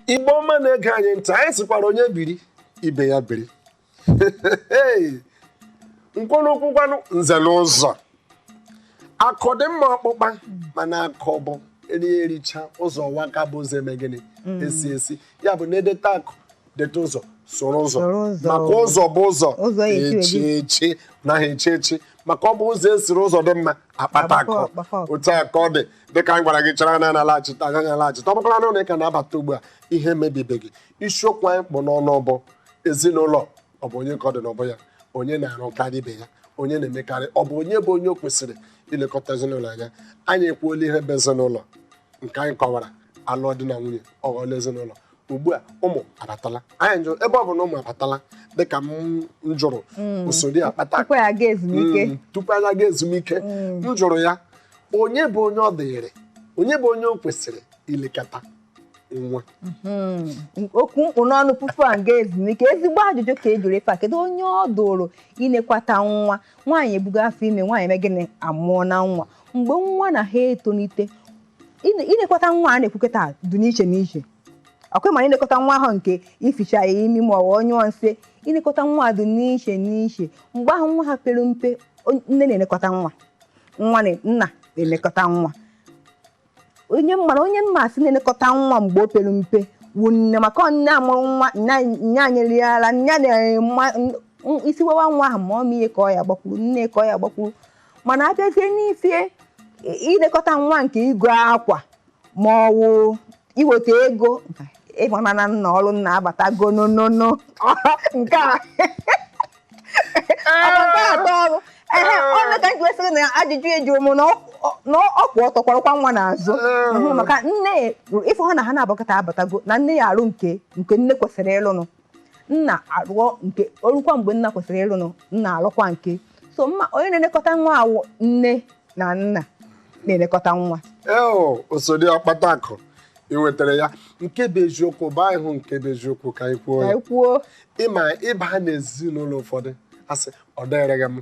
igbo ọma na-ege anyị ntị anyị sịkwara onye biri ibe ya biri nkwụrụkwụ gwanụ nze na ọzọ akụ dị mma ọkpụkpa mana akụ bụ eri ericha ụzọ waka bụ ụzọ eme gịnị esi esi ya bụ na-edeta akụ deta ụzọ soro ụzọ maka ụzọ bụ ụzọ echi echi naghị echi echi maka ọ bụ ụzọ esiri ụzọ dị mma akpata akụ otu a ka ọ dị dịka anyị gwara gị chara na a na-alaghachite agaghị alaghachite ọ bụkwara na ụlọ ị ka na-abata ugbu a ihe mebibeghị isiokwu anyị kpụ n'ọnụ bụ ezinụlọ ọ bụ onye ka ọ dị n'ubu ya onye na-arụkarị ibe ya onye na-emekarị ọ bụ onye bụ onye o kwesịrị ilekọta ezinụlọ anya anyị ekwuola ihe bụ ezinụlọ nke anyị kọwara a lụọ di na nwunye ọ ghọọla ezinụlọ ugbu a ụmụ abatala anyị jụrụ ebe ọ bụ na ụmụ abatala dịka m m jụrụ osodi ọkpata tupu anyị aga ezumike Mm, tupu anyị aga ezumike m jụrụ ya onye bụ onye ọ dịrị onye bụ onye o kwesịrị ilekọta nwa Mm. okwu m kpụ n'ọnụ tupu anyị aga ezumike ezigbo ajụjụ ka ị jụrụ ife a kedu onye ọ dụrụ inekwata nwa nwaanyị ebugo afọ ime nwaanyị eme gịnị amụọna nwa mgbe nwa na ha etolite Ine- Ilekọta nwa a na-ekwukọta dị n'iche n'iche ọkwa ma ilekọta nwa ahụ nke ificha ya imi ma ọ wụ ọ nyụọ nsị ilekọta nwa dị n'iche n'iche mgbe ahụ nwa ha pere mpe on- nne na-elekọta nwa nwa na nna na-elekọta nwa onye mara onye m ma-asị na-elekọta nwa mgbe o pere mpe wụ nne maka ọ nne mụrụ nwa nya nyere ya ara nya na-ema isi wewa nwa ahụ ma ọ ma ihe ka ọ ya-agbakwuru nne ka ọ ya-agbakwuru mana a bịazie n'ife i- ilekọta nwa nke igo akwa ma ọ wụ iweta ego ị mana na nna ọrụ nna abatago nonono nke a Ọ bụ nke atọ ọrụ ehe ọ nya ka m ji wee sịrị na ajụjụ ị jụrụ m na ọ- ọ- na ọ kwụ ọtọ kwọrọkwa nwa n'azụ Mhm, maka nne ị fụ ha na ha na-abakọta abatago na nne ya-arụ nke nke nne kwesịrị ịrụnụ nna arụọ nke o rukwa mgbe nna kwesịrị ịrụnụ nna arụkwa nke so mma onye na-elekọta nwa a wụ nne na nna na-elekọta nwa eo osodi ọkpata akụ i wetara ya nke bụ eziokwu bụ anyị hụ nke bụ eziokwu ka anyị kwuo ka ya anyị kwuo ị ma ị baa n'ezinụlọ ụfọdụ a sị ọ dịrịghị m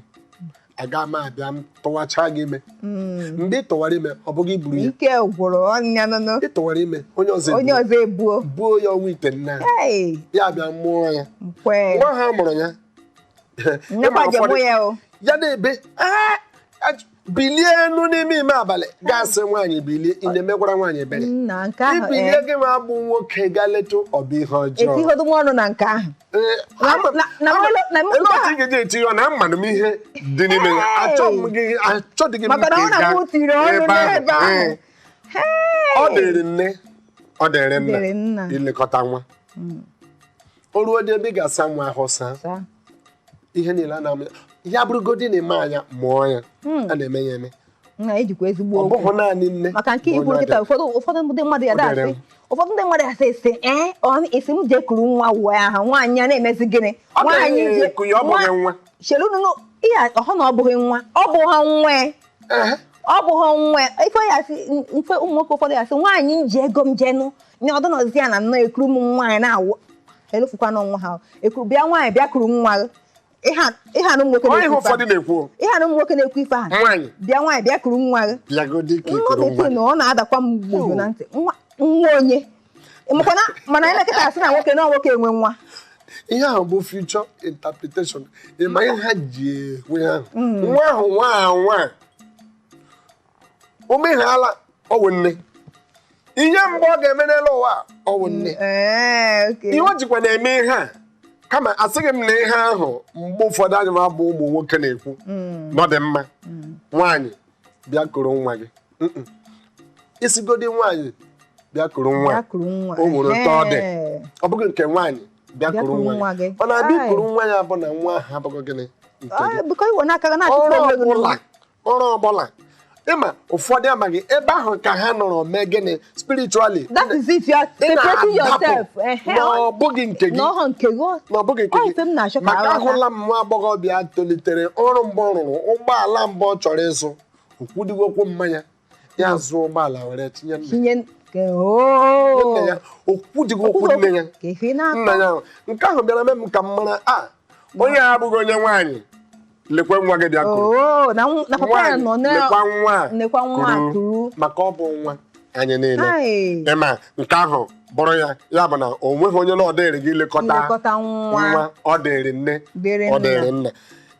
aga m abịa m tụwacha gị ime hmm. mgbe ị tụwara ime ọ bụ gị buru ya ike gwụrụ ọnya nụnụ ị tụwara ime onye ọzọ onye ọzọ ebuo buo ya ọnwa itenaanị ya bịa mụọ ya nwa ha mụrụ ya ya na-ebe bilie enu n'ime ime abalị ga-asị nwaanyị bilie ị na-emekwara nwaanyị ebere i bilie eh. gị nwa bụ nwoke gaa leta ọ bụ ihe ọjọọ ga-eji eti ya na amanụ m ihe dị n'ime ya achọdịghị m ọ dịrị nne ọ dịrị nna ilekọta nwa hmm. o ruodị ebe ị ga-asa nwa ahụ saa ihe niile a na-amụ ya ya bụrụgodị na eme anya mụọ ya hmm. a na-eme ya eme na ejikwa ezigbo okwu ọ bụghị naanị nne maka nke bụ onye i kwuru kịta ada. ụfọdụ ụfọdụ ndị mmadụ ya O dere dasị m. ụfọdụ ndị mmadụ asị esi ee ọ esi m jee kuru nwa uwe ahụ nwaanyị a na-emezi gịnị Ọ nwaanyị gaghị je- eku ya, ọ bụghị nwa. chelunu nụ, ihe a- ọ bụ na ọ bụghị nwa ọ bụghị nwa ya. Ehe. ọ bụghị nwa ya. ife ya asị mfe ụmụ nwoke ụfọdụ ya asị nwaanyị m ji ego m jenụ nye ọdụ nọzi ya na nnọọ ekuru m nwaanyị na-awụ elofukwana nwa ha ekuru bịa nwaanyị bịa kuru nwa gị. ihe a ihe a na ụmụ nwoke Ọ ihe na-ekwu ife ụfọdụ ahụ. na-ekwu ihe a na ụmụ nwoke na-ekwu ife ahụ nwaanyị bịa nwaanyị bịa kuru nwa gị bịagodi ka nwa i kuru bekee nwa na ọ na-adakwa m gbogbo na ntị nwa nwa onye makwana mana anyị na kịta a sị na nwoke na nwoke enwe nwa ihe ahụ bụ future interpretation ị ma ihe ha ji ekwu ihe ahụ nwa ahụ nwa ahụ nwa o mehala ọ wụ nne ihe mgbe ọ ga-eme n'elu ụwa a, ọ wụ nne Ee, okay. ihe o jikwa na-eme ihe a kama asịghị m na ihe ahụ mgbe ụfọdụ anyị ma bụ ụmụ nwoke na-ekwu na ọ dị mma nwaanyị bịa kuru nwa gị Mm-mm. ị sịgodi nwaanyị bịa kuru nwa Ya kuru nwa. o nwere otu ọ dị Ee. ọ bụghị nke nwaanyị bịa Bịa kuru kuru nwa nwa gị gị. nwaanyị bịa Ai. kuru nwa ya bụ na nwa ahụ abụghị gịnị nke gị Ọ, biko i were aka gị na-achịkwa ọrụ onwe gị ọbụla n'ụwa. ọrụ ọbụla ị ma ụfọdụ amaghị ebe ahụ ka ha nọrọ mee gịnị spiritually that is it you are Ị separating na-adapụ yourself ehe, na ọ- ọ bụghị nke gị na ọ bụ nke gị ọ- na ọ bụghị nke ọ ihe m na-achọ ka maka aghọta. ahụla m nwa agbọghọbịa tolitere ọrụ mbụ ọ rụrụ ụgbọala mbụ ọ chọrọ ịzụ o kwudịghị okwu mama ya zụọ ụgbọala were tinye nna tinye nke oo nna ya o kwudịghị okwu nne ya ka ife na-akọ nna ya ahụ. nke ahụ bịara mee m ka m mara na onye a abụghị onye nwaanyị lekwa nwa gị bịa kuru oo na nw- na papa ya nọ Nwaanyị, na lekwa nwa a nekwa nwa a kuru maka ọ bụ nwa anyị niile Hai. ị ma nke ahụ bụrụ ya ya bụ na o nweghị onye na ọ dịrịghị ilekọta nlekọta nwa nwa ọ dịrị nne Dịrị ọ nna. dịrị nna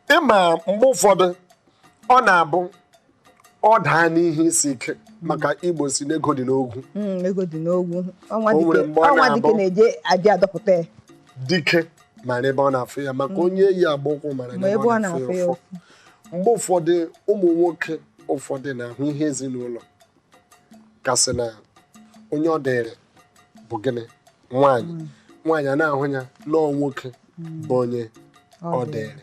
ị ma mgbe ụfọdụ ọ na-abụ ọ daa n'ihe isi ike maka Igbo sị na ego dị n'ogwu Mm, ego dị n'ogwu ọ nwa O nwere dike mgbe ọ ọ nwa dike na-abụ- na-eje adị adọpụta ya dike mara ebe ọ na-afụ ya maka onye yi agba ụkwụ mara ma ebe ọ na-afụ ya ụfụ mgbe ụfọdụ ụmụ nwoke ụfọdụ na-ahụ ihe ezinụlọ ka a sị na onye ọ dịrị bụ gịnị nwaanyị nwaanyị ana-ahụ ya na ọ nwoke bụ onye ọ dịrị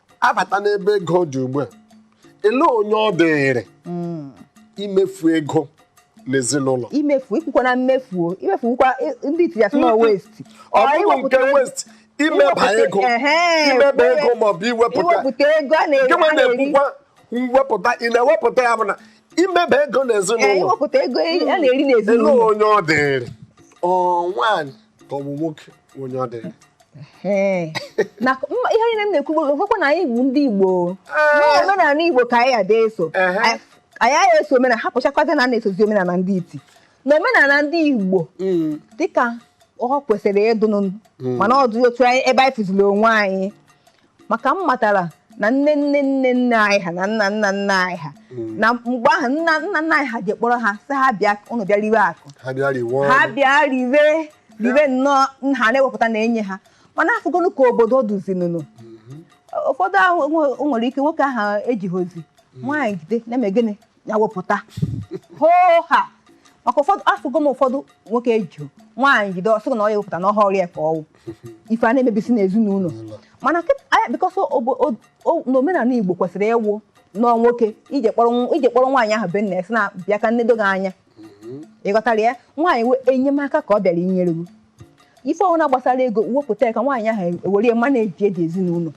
abata n'ebe ego dị ugbu a ele onye ọ dịrị hmm. imefu ego n'ezinụlọ imefu ikwukwa na mmefu imefukwa ndị iti ya sị na hmm. waste ọ bụghị nke waste imeba ego imeba ego maọbụ iwepụta ego a na-ekwukwa mwepụta ị na-ewepụta ya bụ na imeba ego n'ezinụlọ iwepụta ego a na-eri n'ezinụlọ onye ọ dịrị ọ nwaanyị ka ọ bụ nwoke onye ọ dịrị ihe niile m na-ekwu bụkwa na anyị bụ ndị Igbo omenala Igbo ka anyị ada eso anyị aga eso omenala hapụchakwazi na na-esozi omenala ndị iti na omenala ndị Igbo mm. dịka ọ kwesịrị ịdụnụ mm. mana ọ dụghị otu ebe anyị fụziri onwe anyị maka m matara na nne nne nne nne anyị ha na nna nna nna anyị ha na mgbe ahụ nna nna nna anyị ha je kpọrọ ha sị ha bịa unu bịa riwe akụ ha bịa riwe ọnụ. ha bịa riwe riwe nnọọ na ha na-ewepụta na-enye ha mana afụgonụ ka obodo dụzinụnụ ụfọdụ ahụ nwe- nwere ike nwoke ahụ ejihozi nwaanyị jide na-eme gịnị ya wepụta hoohaa maka ụfọdụ afụgo m ụfọdụ nwoke ejiho nwaanyị jide ọ sị na ọ ya ewepụta na ọhọ ọrụ ya ka ọ wụ ife a na-emebisi n'ezinụlọ mana because n'omenala Igbo kwesịrị ịwụ nnọọ nwoke i je kpọrọ nwaanyị ahụ be nna ya sị ya bịa ka m nedo gị anya ị ghọtara ya nwaanyị wụ enyemaka ka ọ bịara inyere gị ife ọbụla gbasara ego wepụta ya ka nwaanyị ahụ were ya manage ezinụlọ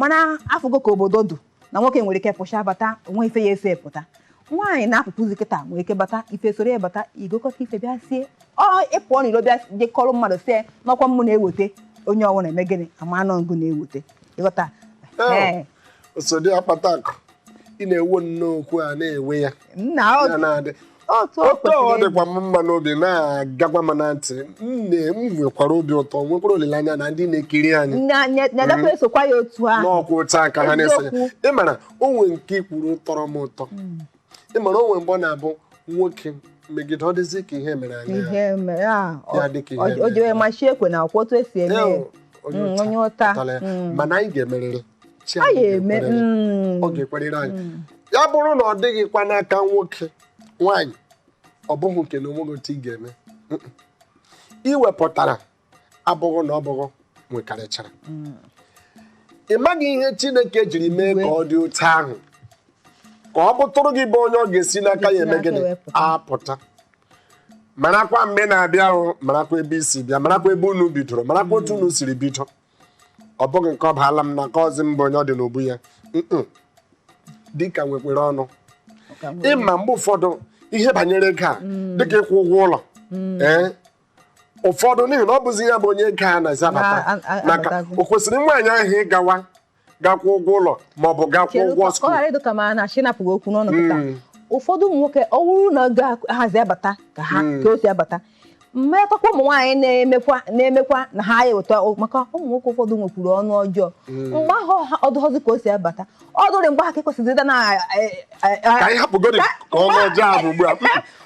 mana afụgo ka obodo dụ na nwoke nwere ike pụcha bata o nwe ife ya eso pụta nwaanyị na-apụpụzi kịta nwere ike bata ife soro ya bata i gokọta ife bịa sie ọ ị pụọ n'ilo bịa je kọrọ mmadụ sị na ọkwa mmụ na-eweta onye ọwụna eme gịnị ama na ọ ngụ na-eweta ị ghọta Ee, oso di akpata akụ ị na-ekwu nnọọ okwu a na-ekwu ya na ọ ya na-adị otu o otu ọ kwesịrị dịkwa m mma n'obi na-agakwa m na ntị m na- m nwekwara obi ụtọ nwekwara olileanya na ndị na-ekiri anyị ịdị. Na- na- na-edekwa esokwa ya otu ahụ na ọkwa otu a ka ha na-esonye Eziokwu. ị mara o nwe nke i kwuru tọrọ m ụtọ ị mara o nwe mgbe ọ na-abụ nwoke megide ọ dịzi ka ihe mere anyị ha. ihe mere a Ya dị ka ihe o mere. jewe machi ekwe na akwụ otu esi eme ya. Ew, onye Mm, ụta onye ụta pụtara ya. Mm. mana anyị ga-emerịrị mm. ọ ga-ekwerịrị anyị mm. ya bụrụ na ọ dịghịkwa n'aka nwoke nwaanyị ọ bụghị nke na o nweghị otu ị ga-eme i wepụtara abụghị na ọ bụ gị nwekarịchara mm. ị maghị ihe Chineke jiri mee ka ọ dị otu ahụ ka ọ bụtụrụ gị bụ onye ọ ga-esi n'aka ya eme gịnị apụta marakwa mgbe na-abịa ahụ marakwa ebe i si bịa marakwa ebe unu bidoro marakwa otu unu siri bido ọ bụghị nke ọ baala m n'aka ọzi m bụ onye ọ dị n'ubu ya Mm-mm. dịka nwekwere ọnụ ị ma mgbe ụfọdụ ihe banyere ego a dịka ịkwụ ụgwọ ụlọ ee ụfọdụ n'ihi na ọ bụzi ya bụ onye ego a na-esi abata Na- a- a- maka abatazi. o kwesịrị nwaanyị ahụ ịgawa ga-akwụ ụgwọ ụlọ maọbụ ga-akwụ Chere ụgwọ ka ọ skuul ghara ịdụ ka m na-achọ ịnapụ gị okwu n'ọnụ kịta Mm. ụfọdụ ụmụ nwoke ọ wụrụ na ego ahazi abata ka ha Mm. ka o si abata mmetakwa ụmụ nwaanyị na-emekwa na-emekwa na ha ya eweta o- maka ụmụ nwoke ụfọdụ nwekwuru ọnụ ọjọọ mgbe ahụ ha ọ dụghọzi ka o si abata ọ dụrị mgbe ahụ ka ekwesịrị ịda na ka anyị hapụgodi ka ọnụ ọjọọ ahụ ugbu a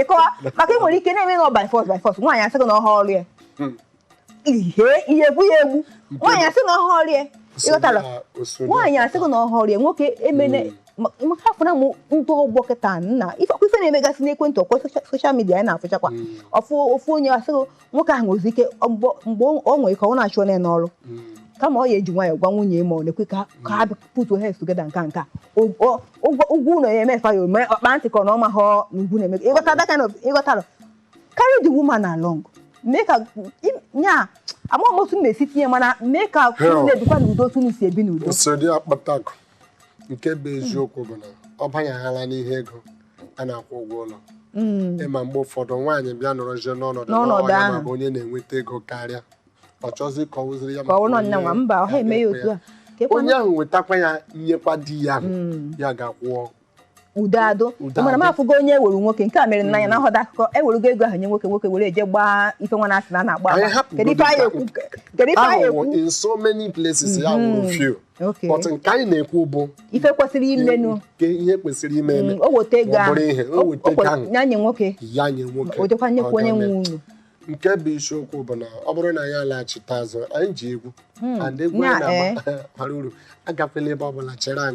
ịkọwa maka ị nwere ike na-eme nọ by force by force nwaanyị asị gị na ọ họ ọrụ ya ihe ihe egbu ya egbu nwaanyị asị na ọ họ ọrụ ya ị ghọtara nwaanyị asị gị na ọ họ ọrụ ya nwoke emene maka afụna mụ ndị ọgbọ kịta nna ifekwa ife na-emegasị n'ekwentị ọkwa soshal midia anyị na-afụchakwa ofu ofu onye asị gị nwoke ahụ nwezi ike mgbe ọ nwere ike ọ na-achụ onye n'ọrụ kama ọ ya eji nwayọọ gwa nwunye ma ọ na-ekwe ka ha put your heads together nka nka ụgwọ ụgwọ ụlọ ya emefa ya ome ọkpa ntị ka ọ na ọ maha na ugwu na-eme ị ghọta that kind of ị ghọtara carry the woman along mee ka nya amaghị m otu m na-esi tinye mana mee ka Hell. unu na-ebikwa n'udo otu unu si ebi n'udo nsogbu akpatakụ nke bụ eziokwu bụ na ọ banyeghala n'ihe ego a na-akwụ ụgwọ ụlọ ị ma mgbe ụfọdụ nwaanyị bịa nọrọzie n'ọnọdụ na N'ọnọdụ ọ nya ahụ. ma bụ onye na-enweta ego karịa ọ chọzi ka ọ wụziri ya ka maka ọ nọ onye- nyanwa mba ọ ha eme ya otu a Ka ekwe onye na- ahụ wetakwa ya nyekwa di ya ahụ Mm. ya gaa kwụọ udo adụ Udo mana m adụ. afụgo onye ewere nwoke nke a mere n'anya na nhọda akụkọ ewerugo ego ahụ nye nwoke nwoke were eje gbaa ife nwa na-asị na a na-agba Anyị agba. hapụ kedu ife godu anyị ka- ekwu kedu ife anyị ahụwo ekwu in so many places ya wụrụ Mhm. few Okay. but nke anyị na-ekwu bụ ife kwesịrị imenụ nke ihe kwesịrị ime eme Mm, o weta ego ma ọ ahụ bụrụ ihe o weta ego ahụ ya nye nwoke ya nye nwoke o jekwa nyekwa onye ọ ga-eme. nwe ụnọ nke bụ isiokwu bụ na ọ bụrụ na anyị alaghachite azụ anyị ji egwu hmm. and egwu anyị na-agba bara uru agakwala ebe ọ bụla chere anyị